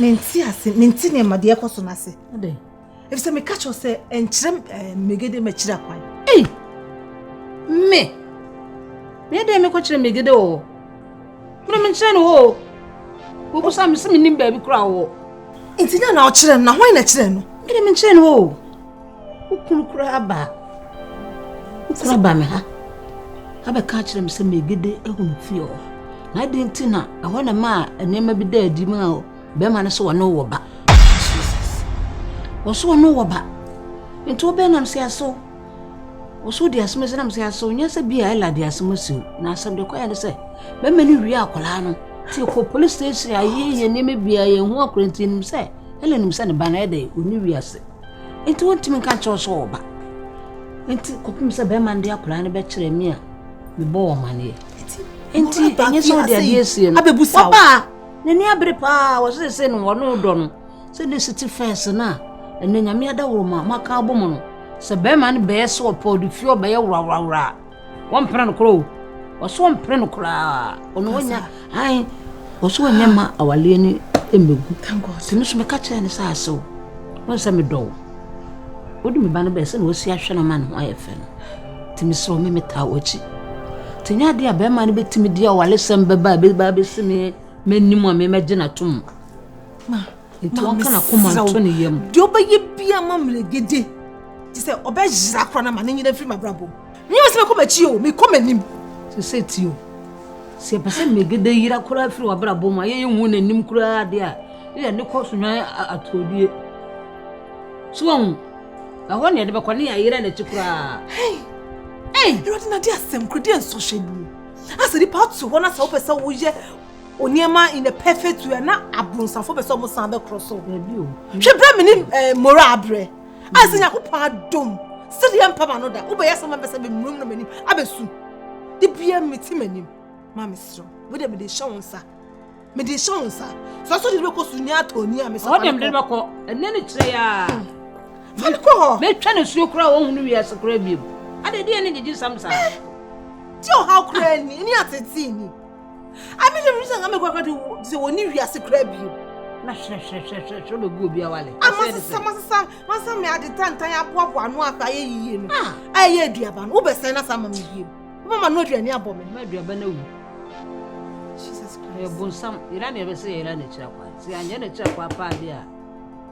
mente ase mente nneɛma deɛ ɛkɔ so no ase ɛfisɛ meka kyerɛ sɛ ɛnkyerɛ eh, megede makyiri akwan me meɛ dɛn mekɔkyerɛ megede wɔ hɔ Mene menkyerɛ no hɔ o. Wobusa me sɛ menim baabi kora wɔ. Nti dɛn na ɔkyerɛ no na hwan na kyerɛ no? Mene menkyerɛ no hɔ o. Wokunu koraa ba. Wokunu ba me ha. Abɛka akyerɛ me sɛ megede ahunu fie hɔ. Na adi nti na ɛhɔ na ma a nneɛma bi da adi ma o. Bɛrima no sɛ wɔne wɔ ba. Wɔso wɔne wɔ ba. Nti wobɛnam sɛ aso. Wɔsɛ ɔdi asɛm asi nam sɛ asɛ ɔnyɛ sɛ bi a ɛla de asɛm asi o na asɛm de kɔyɛ ne sɛ bɛma no wie akwadaa no ti kɔ polisi station ayɛ yɛ nneɛma biara yɛn ho akora nti nim sɛ ɛla nim sɛ ne ba no ɛdɛ ɔni wie ase nti wɔntumi nka nkyɛw sɛ ɔba nti kɔpem sɛ bɛma no de akwadaa no bɛkyerɛ me a mebɔ wɔ maneɛ nti ɛnyɛ sɛ ɔde adeɛ asie no wɔbaa n'ani abere paa wɔsɛ sɛ no wɔne wodɔ no sɛ de sete fɛs no a ɛnɛ nyame adaworo ma maka abɔ mu no sɛ bɛrima no bɛyɛ sɛ ɔpɛ ɔde fie ɔbɛyɛ woraworawora a wɔmpene no korɔ o ɔso ɔmpene no koraa ɔno wɔnya han ɔso wɔnya ma awaleɛ no mmɛgu tumi so meka kyerɛ no sɛ asew wɔn sɛ medɔ wo wode me ba no bɛyɛ sɛ na wɔsi ahwɛ no ma ne ho ayɛ fɛ no tumi sɛ ɔme metaa wɔakyi nti nyɛ adeɛ a bɛrima no bɛtumi de awalesɛm bɛba a bɛba bɛsi me m'anim a memɛgye no atom Ma, nti ɔnka n'akoma nto ne yam. Deɛ ɔbɛyɛ bia ma mmerɛgede te sɛ ɔbɛyera koraa na ma ne nyina mfiri m'abrabɔ mu. Nyɛ me sɛ mɛkɔ m'akyi o, mekɔ m'anim. Sɛ sɛ ti o, sɛ ɛpɛ sɛ mmerɛgede yera koraa firi w'abrabɔ mu a yɛyɛ nhu n'anim koraa deɛ a ne yɛ ne kɔ so nwan atodie. So wɔn, ɛhɔ ne yɛde bɛkɔ ne yɛayera n'akyi koraa. Hei! Hei! Awurade na de asɛm kura deɛ nsɔhwɛ bi. Asɛ nipa ato hɔ na sɛ wopɛ sɛ woyɛ Oniema in a perfect way na abonsafo bɛ sɛ ɔmo san bɛ korɔ so. Hwɛ bere mi ni eh, mora abrɛ. A sɛ Nyankopɔn adom sɛ deɛ mpa ma no da wobɛyɛ sɛ ma bɛ sɛ bɛ mmuram na m'anim abɛsu. De bia mi ti m'anim. Ma me serɛ. Wo deɛ mi de hyɛ wo nsa. Mi de hyɛ wo nsa. Sɛ ɔsɔ de bɛ kɔ so ni atɔ ni a mi sɛ fa ne kɔ. Ɔde mi de bɛ kɔ. Ɛnɛ ne kyerɛ ya. Hmm. Fa ne kɔ hɔ. Mɛ twɛ ne suo kura wɔn hunu wiɛ se kura biem. Ade deɛ ne didi sam saa. Ti ɔhaw kura ni ni asɛti ni. Ami sɛ mi sɛ nka mɛkɔ akɔto sɛ wɔn ni wiase kura bi na hwɛhwɛhwɛhwɛ bɛgu obi awale. Amasesa masesa masa mi adi tantan aboaboa ano akɔ ayɛ yiye no. Ah. Ɛyɛ aduaba no wobɛsɛn na sa ama mi biem. Wobɛma no aduane abɔ mi. Ma aduaba no awu. Jesus Christ. Ɛyɛ bonsam yɛra na ɛbɛsɛ yɛra n'akyiri akwa. Sɛ yɛanyɛ n'akyiri akwa paa bi a.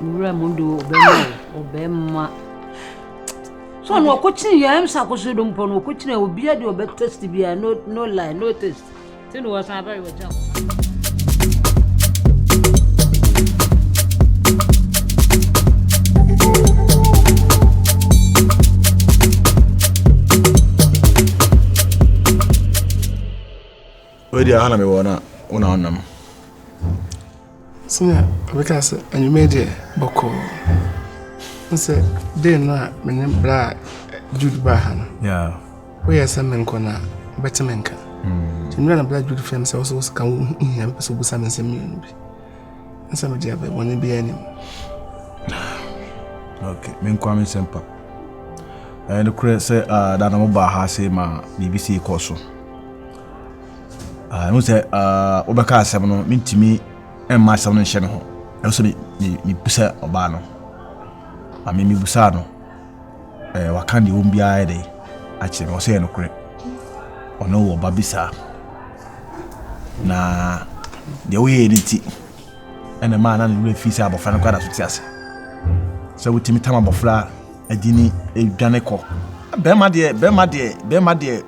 wura mu de ɔbɛma ɔbɛma sɛ ɔno ɔkɔkyene yɛ ɛm sɛ akɔso do mpɔ no ɔkɔkyene obia de ɔbɛtest bia no no lie no test sɛ ne wɔsan bɛyɛ wɔgya hɔ Wei deɛ aha na mewɔ na wo na wonam. Sɛnea ɔbɛka sɛ anwummerɛ deɛ bɔkɔɔ n sɛ dee no a mene berɛ a Jude baa ha no woyɛ sɛ menkɔ no a wobɛte me nka nti mmerɛ na berɛ a Jude frɛ me sɛ wo sɛ wo sika wo hia mpɛ sɛ wobusa me nsɛm mmienu bi n sɛ mede abɛ bɔne bi anim menkwa me nsɛm pa ɛnokorɛ sɛ da na mobaa ha sɛ ma biribi sei kɔ so Ah, ɛho sɛ ah, wobɛka asɛm no mentumi mma asɛm no nhyɛ me ho ɛho sɛ mebusa ɔbaa no ame mebusaa no eh, waka deɛ wɔm biara yɛ dɛn akyerɛ me ɔsɛ yɛ nokorɛ ɔne wɔ ba bi saa na deɛ woyɛɛ no nti ɛna maa na ne werɛ fii sɛ abɔfra no kɔ adaso te ase sɛ wotumi tam abɔfra adini adwane kɔ bɛrima deɛ bɛrima deɛ bɛrima deɛ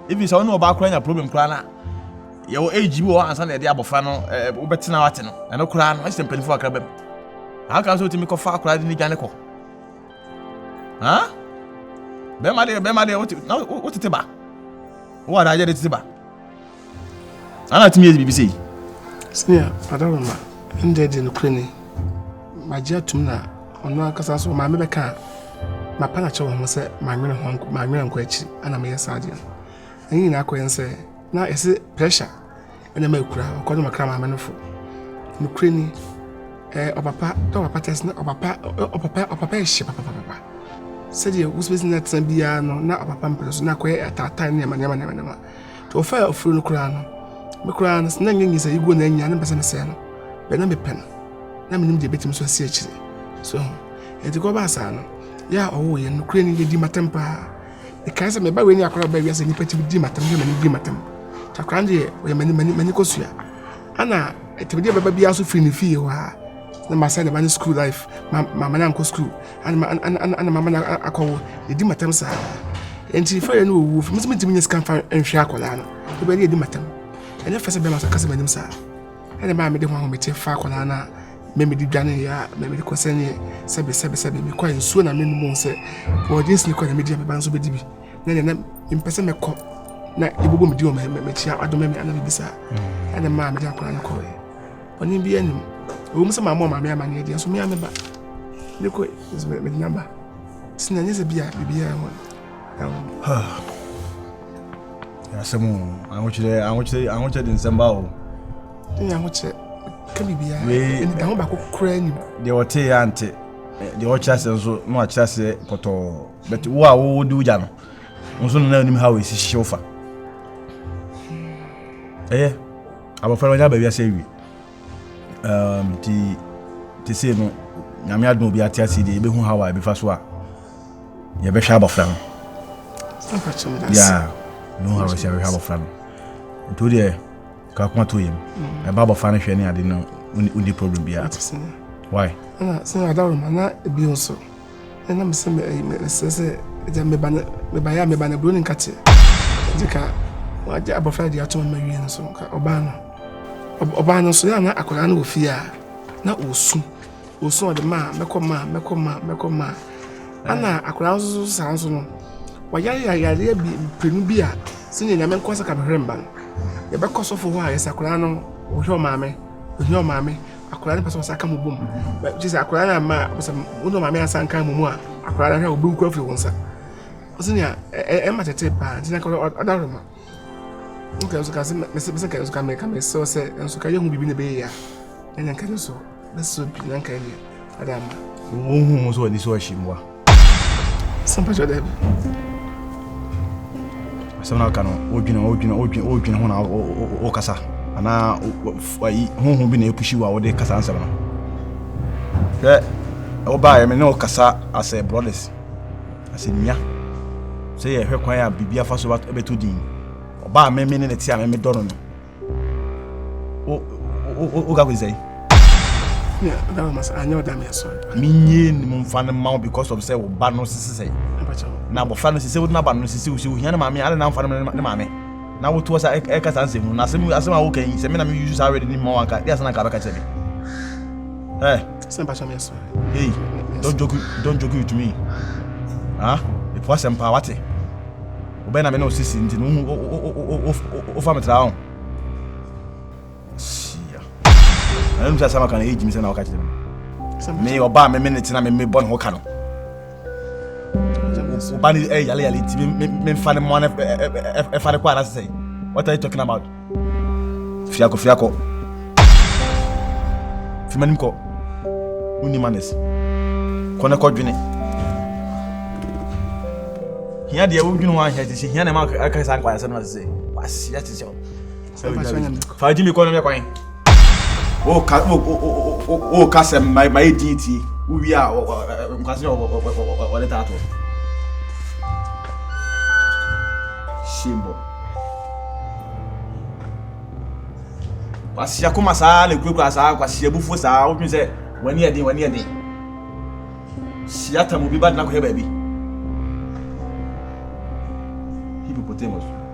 Even sɛ ɔne ɔbaa koraa nya problem koraa na yɛwɔ age bi wɔ ansa na yɛde abɔfra no wobɛtena wate no ɛno koraa no ɛsɛ mpanimfoɔ akra bɛm aka sɛ wotumi kɔfa akora de ne dwane kɔ bɛma deɛ bɛma deɛ wotete ba wowɔ adaagye de tete ba ana tumi yɛ biribi sei sɛnea adaroma ɛndɛ de nokorɛ ni magye atom na ɔno ankasa so ɔmaame bɛka a Mapɛ akyerɛ wo ho sɛ mannwene ho anko, mannwene ankɔ akyiri ana meyɛ saa adeɛ no. Ɛne nyinaa kɔyɛ ne sɛ na ɛsɛ pressure ɛna ma ɛkura ɔkɔ no makra maame no fo. Nokorɛ ni, ɛɛ ɔpapa dɛ ɔpapa tɛs na ɔpapa ɔpapa ɔpapa yɛ hye papapapa. Sɛdeɛ wosibɛsi na tena biara no na ɔpapa mpere so na akɔyɛ ataataa nneɛma nneɛma nneɛma nneɛma. nti wɔfaa afuro no koraa no me koraa no na nyɛ nyisa yi gu na anya ne mpɛ sɛ mesɛe no bɛ na mepɛ no na menim deɛ bɛtumi so asi akyire so ho ɛnti kɔ baa saa no yɛ a ɔwɔ yɛ no kura ni yɛdi matam paa ɛkae sɛ meba wei ne akora baa wiase nnipa tumi di matam hwɛ m'anim di matam nti akora no deɛ ɔyɛ m'ani m'ani m'ani kɔsua ana ɛtumi deɛ bɛba biara so firi ne fie hɔ a na masɛ ne ba ne school life ma ma ma na nkɔ school ana mama no akɔwo ɛdi matam saa nti fɛrɛ no ɔwuo fo metumi tumi nyɛ sika mfa nhwɛ akwadaa no wobɛde ɛdi matam ɛnyɛ fɛ sɛ bɛma sa kasa m'anim saa ɛne maa mede ho ahomete fa akwadaa no a mɛmɛde dwane yɛ a mɛmɛde kɔ sɛ neɛ sɛbe sɛbe sɛbe mekɔ nsuo na menom sɛ wɔgye nsini kɔ na medi a meba nso bɛdi bi na neɛ na mpɛ sɛ mɛkɔ na ɛbobɔ medi wɔ mɛkyia adome me ana mebisa ɛne maa mede akwadaa no kɔɛ Ɔne bi anim. Ɛwɔ mu sɛ maa mo maame amaneɛ deɛ nso mea me ba. Ne kɔ nso mede no aba. Sɛ na nyɛ sɛ bi a biribiara ho ɛho. Asɛm o, ahokyerɛ ahokyerɛ ahokyerɛ de nsɛm ba o. Ne yɛ ahokyerɛ ka biribiara. Wei ɛnita ho baako koraa nim. Deɛ ɔte yɛ ante. Deɛ ɔkyerɛ aseɛ nso na wakyerɛ aseɛ pɔtɔɔ. Bɛte wo a wo di wogya no. Nso no na anim ha wɔ esi hyew fa. Ɛyɛ. Abɔfra no wanya aba wiase awie. Um, ti, te sei no, nyame adom obi ate ase deɛ yɛbɛhu haw a yɛbɛfa so a yɛbɛhwɛ abɔfra no. Yeah, yɛbɛhu haw a yɛbɛhwɛ abɔfra no. Nti wo deɛ, kakoma to yam. Mm. Ɛba abɔfra no hwɛ ne ade no, wonni problem biara. Why? Sɛ adaroma na ebi nso. ɛna mesɛ mesɛ sɛ agya meba no mebaeɛ a meba no aburo ne nkate gye ka wagye abɔfra de ato ma wie no so ka ɔbaa no ɔbaa no nso yɛ na akwadaa no wɔ fie a na ɔsu ɔsu ɔde maa mɛkɔ maa mɛkɔ maa mɛkɔ maa ana akwadaa no nso saa nso no wayare yareɛ bi mprenu bi a sɛnea nyame nkɔ sɛ ka mehwɛ mba no yɛbɛkɔ sɔfo hɔ a yɛsɛ akwadaa no ɔhwɛ ɔmaame ɔhwɛ ɔmaame akwadaa no pɛ sɛ ɔsan ka mo bom gye sɛ akwadaa no ama pɛ sɛ wo ne maame asan ka mo mu a akwadaa no hwɛ obi nkura firi wo nsa ɔsɛ nea ɛma tete paa nti na ka ɔda roma nka nso ka sɛ mesɛ ka nso ka meka mesɛ sɛ nso ka yɛhu biribi na ɛbɛyɛ yɛ a ɛnyɛ nka ne so bɛsɛ bi na nka ɛnyɛ ada ma wohu mu sɛ ɔde sɛ ɔhye mmoa sɛ mpɛkyɛ dɛ bi asɛm no aka no wodwene wodwene wodwene wodwene ho na wokasa anaa ayi honhom bi na ɛpushi wo a wode kasa nsɛm no hwɛ wobaeɛ me ne wokasa asɛ brothers asɛ nua sɛ yɛhwɛ kwan a biribi afa so bɛtɔ din ɔbaa me me ne ne te a me medɔ no no woka kɔsi sɛn menyɛ nim mfa no ma wo because of sɛ wo ba no sese sɛ na abɔfra no sese wode no aba no sese wo sɛ wohia ne maame ade na mfa no ne maame na wotoɔ sa ɛka saa nsɛm mu na asɛm asɛm a woka yi sɛ me na meyusu saa wɛde ne ma wanka de asɛ na ka bɛka kyerɛ me Hey, don't joke, don't joke with me. Huh? It wasn't power. wo bɛn na me ne wo sisi nti no wofa me tra ho hyia ɛno nim sɛ asɛm aka no ɛgyimi sɛ na woka kyerɛ me me ɔba a meme ne tena mebɔ ne ho ka no woba ne yale yale nti memfa ne mmoa no ɛfa ne kɔ anasɛ what are you talking about Fiakɔ fiakɔ. Fi m'anim kɔ. Wonni manners. Kɔ na kɔdwene. Hia deɛ wodwene ho ahia te sɛ hia na ɛma aka saa nkwayasɛm no te sɛ waseɛ te sɛ sɛ wodwa bi. Fa gye me kɔ no mɛkwan. Oh, ka, oh, oh, oh, oh, oh, ka sɛ ma ma yɛ din ti wowie a nkwasi na ɔde taa to hyɛmbɔ kwasi akoma saa na ekurakura saa kwasi abufuo saa wotumi sɛ wani ɛden wani ɛden hyia tam obi ba dena kɔhɛ baabi hippopotamus.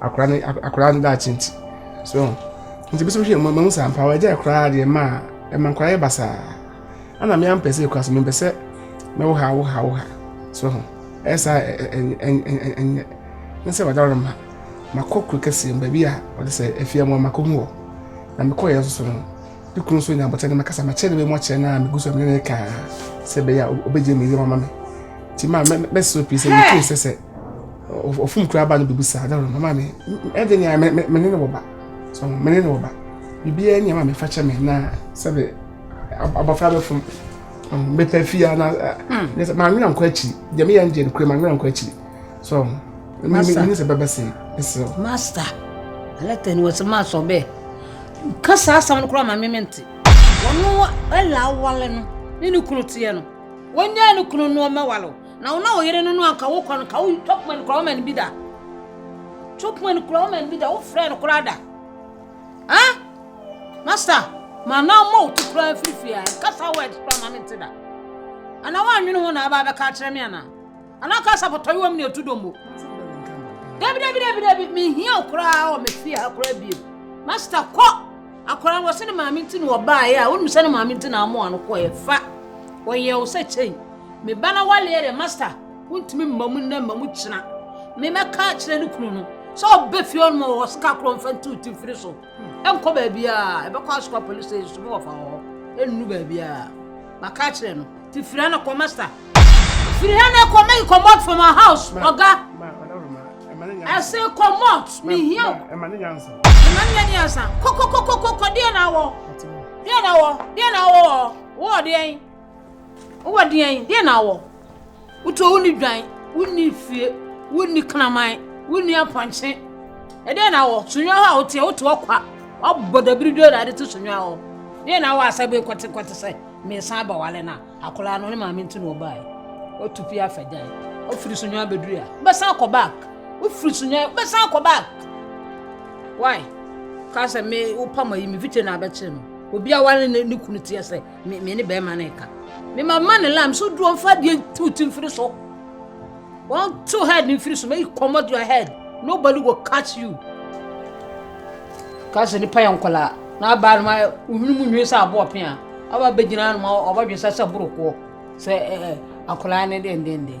akora ne akora ne daakye nti so nti bɛsɛ hwɛ mmamu saa mpa wɔagya akora deɛ ma a ɛma nkora yɛ basaa ana me ampɛ sɛ kora so mempɛ sɛ mɛwo ha wo ha wo ha so ho ɛyɛ saa ɛnyɛ ne sɛ wɔda no ma makɔ kuro kɛseɛ mu baabi a wɔde sɛ afia mu a makɔ hu hɔ na mekɔ yɛ nso no ne kunu nso nya abɔkyɛ ne makasa makyɛ ne bɛmu akyɛ no a megu so a mene ne kaa sɛ bɛyɛ a ɔbɛgye me yɛ mama me nti ma mɛsɛ pii sɛ mefiri sɛ sɛ ɔfom kura ba no bɛbu saa dɛ mama me ɛde nea me me ne ne wɔ ba so me ne ne wɔ ba biribiara nea ma me fa kyɛ me na sɛde abɔfra bɛfom mepɛ fie a na ne sɛ maa nwena nkɔ akyiri deɛ meyɛ no deɛ no kura maa nwena nkɔ akyiri so me ne sɛ bɛbɛ se ɛsɛ o. master alɛtɛ ni wɔsi maa sɔ bɛɛ nka saa asɛm no koraa ma me mente wɔn ɛla awale no ne ne kunu teɛ no wɔnyɛ ne kunu noɔma wale o. Na wo na wo yere no no anka wo kɔ no ka wo tɔpoma no kura wo ma no bi da tɔpoma no kura wo ma no bi da wo frɛ no kura da ha masta ma na ma wo ti kura firifiri a kasa word kura ma me te da ana wa nwene ho na aba bɛka akyerɛ me ana ana kasa pɔtɔ yɛ wɔ me ne ɛtu dɔmbo dabi dabi dabi dabi mehia wo koraa wɔ me fie ha koraa bio masta kɔ akora wɔ sɛ ne maame nti na wɔbaeɛ a wonim sɛ ne maame nti na amoa no kɔɛ fa wɔyɛ wo sɛ kyɛn Me ba n'awale yɛ dɛ master wontumi mma mu nnɛ mma mu kyena me mɛka akyerɛ ne kunu no sɛ ɔbɛ fie ɔnom wɔ sika korɔ mfa nti woti mfiri so ɛnkɔ baabiaa ɛbɛkɔ asokɔ police station so mewɔ fa wɔ hɔ ɛnnu baabiaa maka akyerɛ no ti firi ha na kɔ master firi ha na kɔ make comot from our house ɔga ɛse comot mehia ɛma ne nyansa ɛma ne nyansa kɔkɔkɔkɔkɔ deɛ na awɔ deɛ na awɔ deɛ na awɔ wɔ deɛ Wowɔ deɛn? Deɛn na wɔ? Wotɔ wonni dwan, wonni fie, wonni kraman, wonni apɔnkye. Ɛdeɛn na wɔ? Sonwa hɔ a woteɛ, wote ɔkwa. Wabɔ dabiri dwa na ade to sonwa hɔ. Deɛn na wɔ asɛ bɛ nkɔte nkɔte sɛ mesan aba wale na akwadaa no ne maame nti na ɔbaeɛ. Watu pia afa gyan. Wofiri sonwa bɛduru a, wobɛsan akɔ back. Wofiri sonwa, wobɛsan akɔ back. Why? Ka sɛ me wopam ayi me fikyɛ na abɛkyere no. Obi awale ne kunu teɛ sɛ Me me ne bɛrima no reka. Me ma ma ne lam so duro mfa adeɛ ntu ti mfiri so. Wɔnto head no mfiri so make comot your head. Nobody will catch you. Kasi nipa yɛ nkɔlaa na abaa no ma ohunu mu nwi sɛ aboɔ pea. Aba bɛgyina no ma ɔbɛdwe sɛ sɛ borokoɔ sɛ ɛɛ akɔlaa ne dendenden.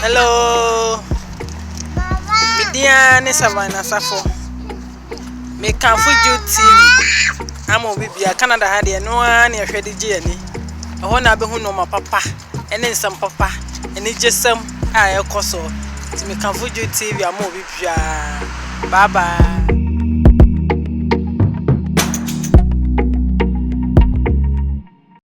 Hello me din ara ne Savannah Safo me kanfo Jude TV ama obi bia Canada ha deɛ ɛno ara ne ɛhwɛ de gye ani ɛhɔ na abɛhu nneɛma papa ɛne nsɛm papa anigyesɛm a ɛkɔ so nti me kanfo Jude TV ama obi bia bye bye.